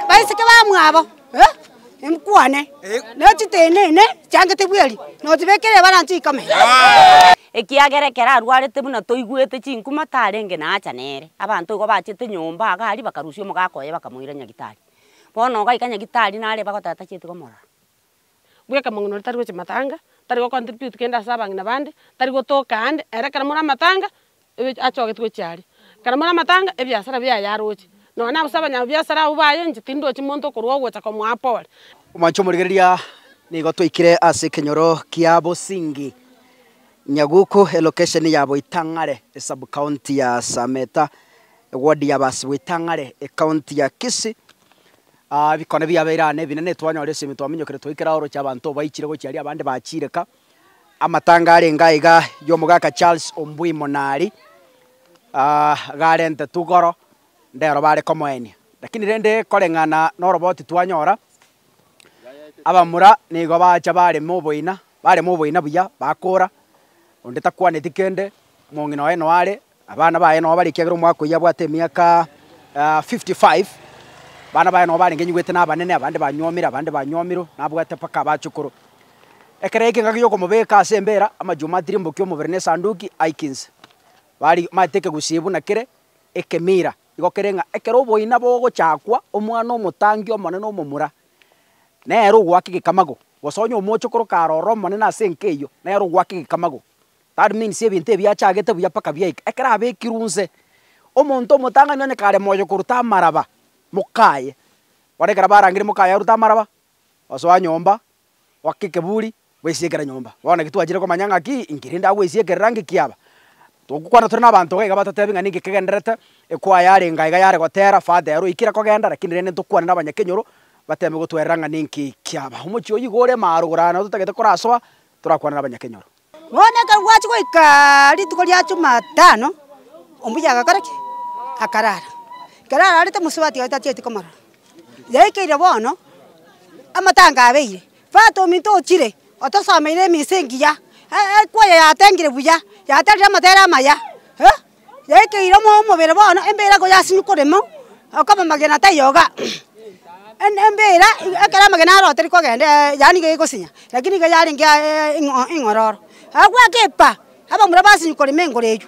baiseke bamwabo nkwane nechitenene chiangete bweri notibekere ebarancho ikame. Ekiagera ekero arwarete buna toigwete chinkuma tarenge naacha nere. Abanto igo bachete nyomba iga aria bakarusia omogaka oye bakamoira nyagitari. Bono ogaika nyagitari nare bagoteta chietiga omororo. bw'ekamang'uno tari gochia matanga, tari go contribute kende ase abang'ina bande, tari gotoka ande, ere ekero more amatanga, ebe achogete gochia aria. Ekero more amatanga, ebiasara biaye aroche, nonya na ase abanyabiasara abwo baye inche tindi ndochi monto okorwa ogocha komoa pole. Omwancha omorigereria, nigo twaikire ase ekenyoro kia Bosingi Nyaguku, elokesheni ya Boitang'are, esabkaunti ya Sameta, ewodi ya Basi-Boitang'are, ekaunti ya Kisii, Aa, ebikone biabeire aa nebinene, twanyora esemi, twaminyokire twaikire aa oroche abanto baichire gochia aria abande bachiireka. Amatanga arenge aiga y'omogaka Charles Ombui Monari, aa garentetwe igoro, ndero bare komoenia. Rakini rende koreng'ana noroboti twanyora, abamura nigo bacha barema oboina, barema oboina buya, bakora, onde takwaneti kende, omong'ina oye noare, Abana baye nao bare ekiagera omwaka oyio abwate emiaka fifty five. Abana baye nao barenge nyigwete na abanene, abande banyuomire, abande banyuomiro, nabwate mpaka abachukuru. Ekero yaika engaki y'okomobeeka ase embeera, amachuma atirimbokia omobere na esanduki aike inse. Bari maete ekegusii buna kere ekemira, igo kere ng'a ekero oboina bogochakwa, omwana omotangi omonene omomura, nere ogoaka egekamago, gose onye omochokoro kare ororo omonene ase enka eyio, nere ogoaka egekamago. That means ebinto ebi biachagete buya mpaka biaika ekero abekirwe inse. Omonto omotang'ani onye kare moyo koruta amaraba mokaye, bono ekero barangire mokaye arute amaraba, osoa nyomba, oake ekeburi, bwesiekere nyomba. Bono naki twachire komanya ng'aki inki rende agwesiekerera ng'iki yaba. Togokwana tore na abanto iga iga batotebie ng'a ninki kegendererete, ekwaya yarenge aiga yare gotera, fata ero oikire kogenda, lakini rende ntokwane na abanyakenyoro, bateme gotwerera ng'a ninki kiaba. Omochie oyio iga ore maroro, nabo totagete korasoa, torakwane na abanyakenyoro. Bono ekero gwachia goika rituko ria Jumatano, ombuya agakora ki? Akarara. Ekero ararete mosubati oye tachieti komorora. Yaikeire bono, amatango abeire, bwate ominto ochire otosomeire emisa engiya, ekwaya yatengire buya, yaterire amatere amaya, eh. yaikeire omoyo omobere bono, embeera ko yasinye korema, akaba amagena tayoga, en embeera iga ekero amagena arotire kogendeeee yaani iga egosinya, lakini iga yarenge aeeee ing'o ing'ororo. Agwake epa, abamura basinyi korema engoro eywo,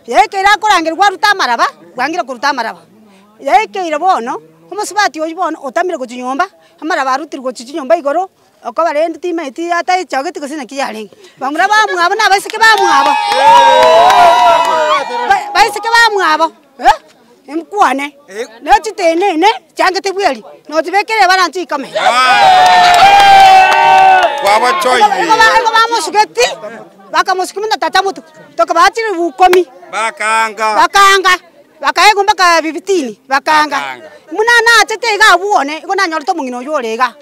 yaikeire akorangerwa arute amaraba, bwangire koruta amaraba, yaikeire bono, omosubati oywo bono otamire gochia nyomba, amaraba arutirwe gochia chinyomba igoro. Okobara erio timanyeti ataichogeti gose naki yarenge. Bamura bamwabo na abaiseke bamwabo. Baiseke bamwabo mkwane ne chitenene chiangete bweri nochibekera ebarancho ikame. Igo bamosugeti bakamosukia buna tata motuku tokobaga chiribu ikomi bakaanga. Bakaegwa mpaka bibitini, bakaanga, Buna naachete iga abwo one, igo nanyorete omong'ina oyio ore iga.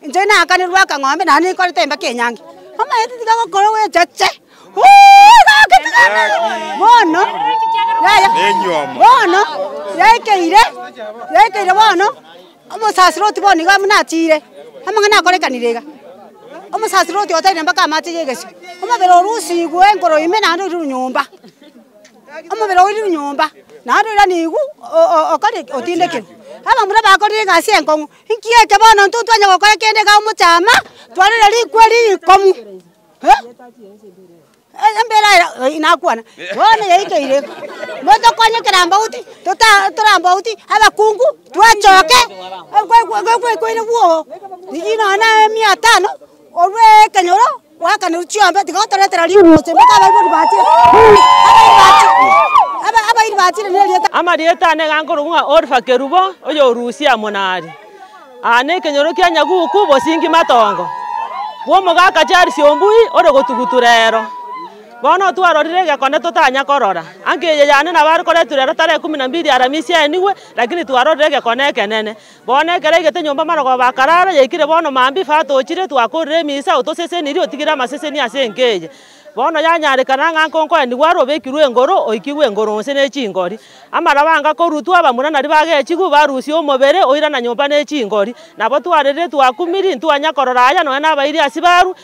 Inche naakanirwe akang'ombe, naende ninkorete embeka enyange. Omanyete tiga gokora ogwechache, uuh iga aketigana. Bono, yaya, bono yaikeire, yaikeire bono, omosasiru otu bono iga buna achiire, amang'ana akorekanire iga, omosasiru otu oteire mpaka amache ya egesio, omobere orusigwe enkoro ime naende oirwe nyomba. omobere oire nyomba, naende oira nigwe okore ki? Otindekerwe. Abamura bakorire egasi enkong'u, nki eke bono intwe ntitwanya gokora kende iga omochama, twarere rikwe rikong'u eh, embere aya eh nakwana, bono yaikeire iga, motokonye kerambauti tota torambauti abakungu twachoke gokwa gokwa gokwaire bwoo, riria nonye na emiatano orwee ekenyoro. Goakanirwa chiombe, tiga otoretera riuruche, mpaka abaibori bachire, abairi bachire, aba- abairi bachire nerieta. Amarieta ane iga nkorokwa ng'a Orfa Kerubo, oyorusia Monari, aa nekenyoro kia nyaguku bosingi matongo, bw'omogaka Charles Ombui ore gotugutura ero. Bono otwarorire egekone totanya korora. Anka eye yane nabo are koreturwa ero tarehe kumi na mbili Aramisi aenigwe, lakini twarorire egekone ekenene. Bono ekero aigete nyomba amarogoba akarara, yaikire bono mambia ifaa tochire, twakorire emisa, otosesenirie, otigire amaseseni ase enka eye. Bono yanyarekana ng'a nko nkoenigwe are obekirwe engoro, oikigwe engoro onsi ne chingori. Amaraba anga korutwa, abamura naria bagechigwe, barusia omobere, oirana nyomba ne chingori. Nabo twarerire twakumiri, ntwanya korora aya, nonya nabairi asibaaru,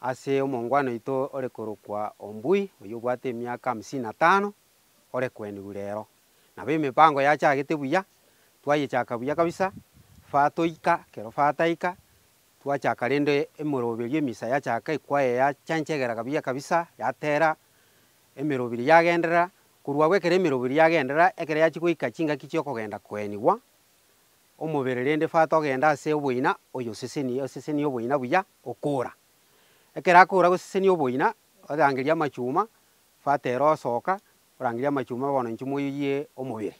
ase omongwana oito ore korokwa Ombui, oyio obwate emiaka hamsini na tano, ore kwenigwa rero. Nabo emepango yachagete buya, twayechaka buya kabisa, faa toika, kero faa taika, twachaka rende emoroberio emisa yachaka ekwaya yachenchegera kabuya kabisa, yatera, emeroberio yagenderera, korwa agwo ekero emeroberio yagenderera, ekero yachia goika chingaki chi'okogenda kwenigwa, omobere rende fata ogende ase oboina oyosesenie, osesenie oboina buya okora. Ekero akora gosesenia oboina, orangerie amachuma, fata ere osoka orangerie amachuma bono inche moyoyie omobere.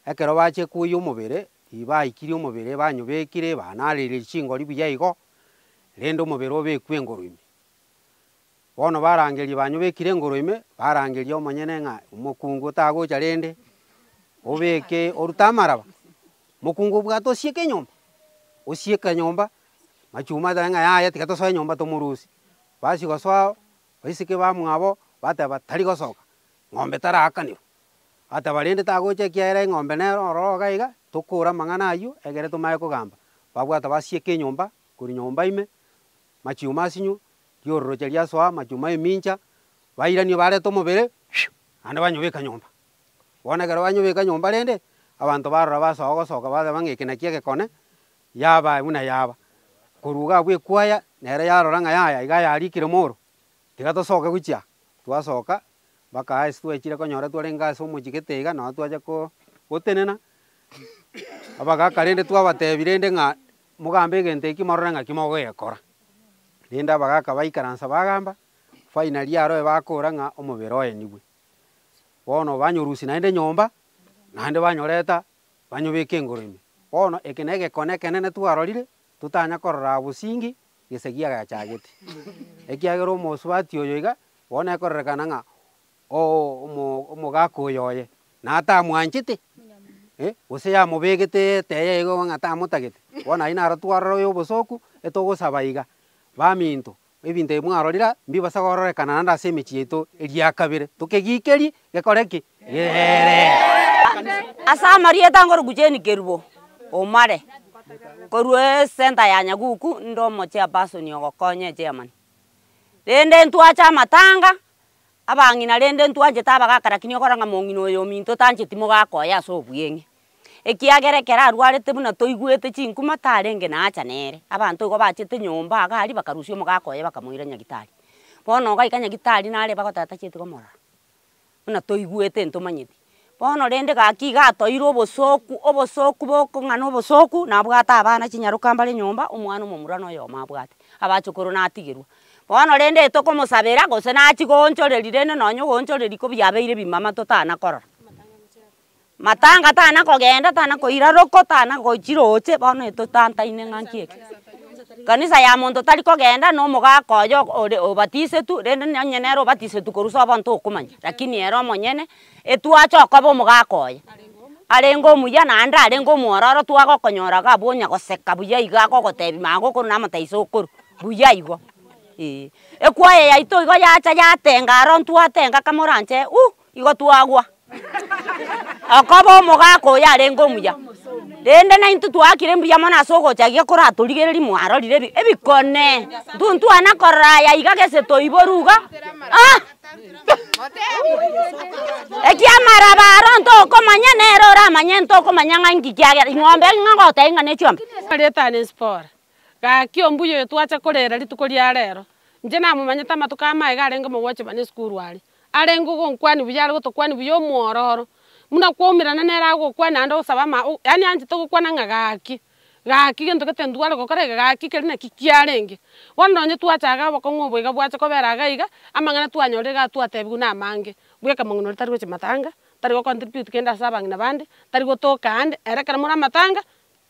Ekero bache koyia omobere, riria baikirie omobere banyobekire, banareire chingori buya igo, rende omobere obekwe engoro ime. Bono barangerie banyobekire engoro ime, barangerie omonyene ng'a omokungu tagocha rende, obeke orute amaraba. Mokungu bwata osieke enyomba, osieke enyomba, machuma ateba ng'a yaya tiga tosoe enyomba tomorusie. Bachia gosoa baiseke bamwabo bateba tari gosoka, ng'ombe taraakanirwe. Bateba rende tagocha ekiagera eng'ombe nero ororo iga iga, tokore amang'ana aywo egere tomanye kogamba. Babwata basieka enyomba korwa nyomba ime, machuma asinywe. ri'ororoche riasoa amachuma ’emincha, bairanie barete omobere, naende banyobeka nyomba. Bono ekero banyobeka nyomba rende, abanto barora basoa gosoka bateba ng'a eke nakio egekone, yaba buna yaba. Korwa iga abwo ekwaya nere yarora ng'a yaya iga yarikire mooro, tiga tosoke gochia aa. Twasoka mpaka ase twachire konyora twarenge ase omochie gete iga nabo twacha ko gotenena, abagaka rende twabatebi rende ng'a mogambe egento eki morore ng'aki mogoyekora. Naende abagaaka baikaransa bagamba, Faina riaroe bakoora ng'a omobere oenigwe. Bono banyorusia naende enyomba, naende banyoreta banyobeke engoro ime. Bono eke negekone ekenene twarorire, totanya korora bosingi gesegi agachagete. Ekiagera omosubati oyo iga bono ekororekana ng'a Oo omogaaka oyoye, natamwanchete, gose yamobegete etaya eye ng'a tamotagete, bono aye naro twarora oyo obosooku etogosaba iga. Baminto, ebinto ebi mwarorire mbibasa kororekana naende ase emechie yaito eria kabere, tokegikerie gekore ki? Geere. Ase amarieta ngoruku Jane Kerubo, Omare, korwa esenta ya Nyaguku, nde omochairperson ogokonya echairman. Rende ntwache amatanga, abang'ina rende ntwanchete abagaka lakini okora ng'a mong'ina oyo ominto otancheti mogaka oye ase obweng'e. Ekiagera ekero arwarete buna toigwete chinkuma tarenge na acha nere, abanto igo bachete nyomba iga aria bakarusia omogaka oye bakamoira nyagetari. Bono ogaika nyagetari nare bagotatacheti komorora buna toigwete ntomanyeti. Bono rende gaki iga atoeirwe obosoku, obosoku bokong'ana obosoku nabwate abana chinyaroka mbare nyomba, omwana omomura na oyomo abwate, abachukuru natigerwa. Bono rende tokomosabera gose nachie goonchoreri rende nonye ogoonchoreri ko biabeire bimama totana korora. Matanga tana kogenda tana koira roko tana gochi roche bono totantaine ng'aki eke. Kanisa ya monto tari kogenda nomogaaka oye ore obatisetu rende nonye nere obatisetu korwa ase obo ntokomanya lakini ere omonyene etwache okoba omogaaka oye arenge omuya naende arenge omwororo twagokonyora iga abwo onya goseka buya iga agogotebi magokoro na amataiso okoru buya igo eh. Ekwaya yaito igo yacha yatenga aro ntwatenga kamo oranche uuh Igo twagwa, akoba omogaka oyo arenge omuya, rende naintwe twaakire mbuya mono ase ogocha gaiga koratorigereria mwarorire ebi ebikone, ntintwana korora aya iga gese toiboru iga ah ekiamaraba aro ntokomanya nere oramanye ntokomanya ng'a nki kiagera ing'ombe eri ng'a goteba ng'a ne chiombe. Ritani Zipora, gaki ombuya oyo twacha korera rituko ria rero, inche namomanyete amatuko amaye iga arenge omogwechwa bana esukuru aria. arenge ogonkwania buya are gotokwania buya omwororo, buna kwaumerana nere agokwania naende ogosaba ama o yaani anchete ogokwana ng'a gaki, gaki gento gete ntware gokora iga, gaki keri naki kiarenge. Bono nonye twachaga obokong'u obo iga bwacha kobera iga iga, amang'ana twanyorire iga twatebigwe na amange, bwa ekamang'uno ere tari gochia matanga, tari go contribute kende ase abang'ina bande, tari gotoka ande, ere ekero more amatanga,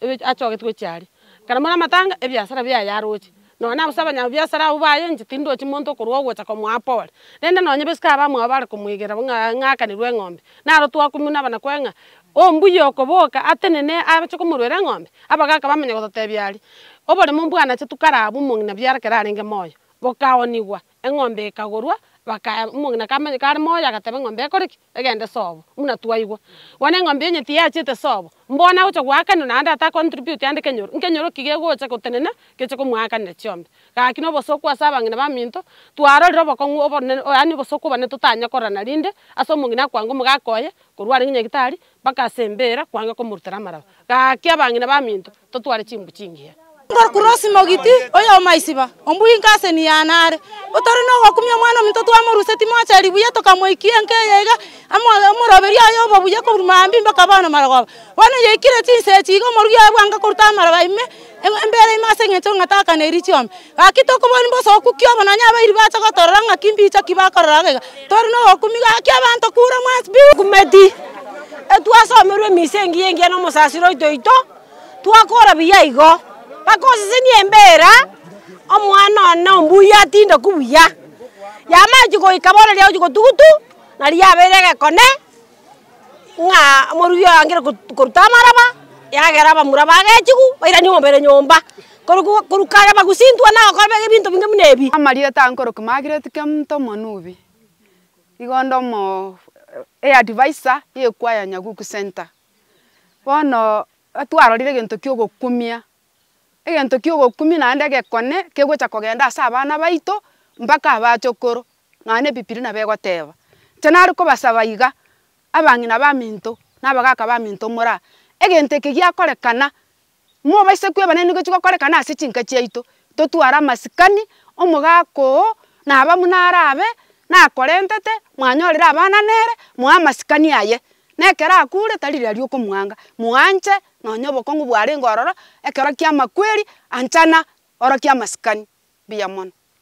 ebi achogete gochia aria. Ekero more amatanga, ebiasara biaye yaroche. Nonya gose abanyabiasara abwo baye inche tindochi monto okorwa ogocha komoa pore. Rende nonya bosike abamwabo bare komoigera buna ng'a ng'akanirwe eng'ombe, naro twakumuna abanakwa ng'a ombuya okoboka atenene ache komorwera eng'ombe, abagaka bamanya gototebia aria, oboremo mbwanache tu kare abwo omong'ina biara ekero arenge moyo, bokaonigwa. eng'ombe ekagorwa, baka omong'ina kamanya kare moyo agateba eng'ombe ekore ki? Egende sobo, buna twaigwa. Bono eng'ombe onye tiyachete sobo, mbono agocha goakanwa naende ata contribute ande kenyoro, nkenyoro ki gegocha gotenena geche komoakanera chiombe? Gaki na obosooku ase abang'ina baminto, twarorire obokong'u obonene, yaani obosooku obonene totanyia korora na rinde ase omong'ina akwange omogaka oye, korwa are ng'a nyagetari, Bagasembeera kwanga komorutera amaraba. Gaki abang'ina baminto, totware chimbu chingiya. Korwa Kurosi mogiti oy'omaisiba ombwinko ase Niana are, otore nogokumia omwana ominto twamorusia Timocheri buya tokamoikia enka eye iga amo omoroberio aye obo buya korwa mambia mpaka bono marogoba. Bono yaikire chinsa echi iga omoruya oye bwango koruta amaraba ime, embere ime ase engencho ng'a takaneiri chiombe. Gaki tokobua nimbe osooku ki obo nonya abairi bacha gotorora ng'aki mbicho ki bakorora gaiga? Tori nobokumi gaki abanto kure mwansi pi. Okumeti, etwasomerwe emisa engiya engiya nomosasiro oito oito, twakora buya igo. Mpaka osesenie embera omwana one ombuya atindoku buya. Yamaeti goika bono riagochi gotugutu, nariabere egekone. ng'a omorugi oye angire koruta amaraba, yagera abamura bagechigu bairanie omobere nyomba, korokwa korwa kare bagosintwa na okorobegwa ebinto binge buna ebi. Amarieta aa nkorokia Margaret Kemto Omonubi, igo onde omoo eadviser y'ekwaya ya Nyaguku Centre. Bono twarorire egento kia ogokumia, egento kia ogokumia naende egekone kegocha kogenda ase abana baito mpaka abachokoro, Ng'a nebipiri nabegoteeba, Inche nare kobasaba iga, abang'ina baminto, na abagaaka baminto moraa, egento eke giakorekana, mobaise kweba naende nigechie gokorekana ase chinka chiaito, totware amasikani, omogaaka oo, na aba buna arabe, nakorentete, mwanyorire abana nere, moe amasikani aye, na ekero akure, tari riria riokomwanga, moanche nonye obokong'u bwarenge ororo, ekero kiamakweri, anchana, orokia amasikani. Mbuya mono.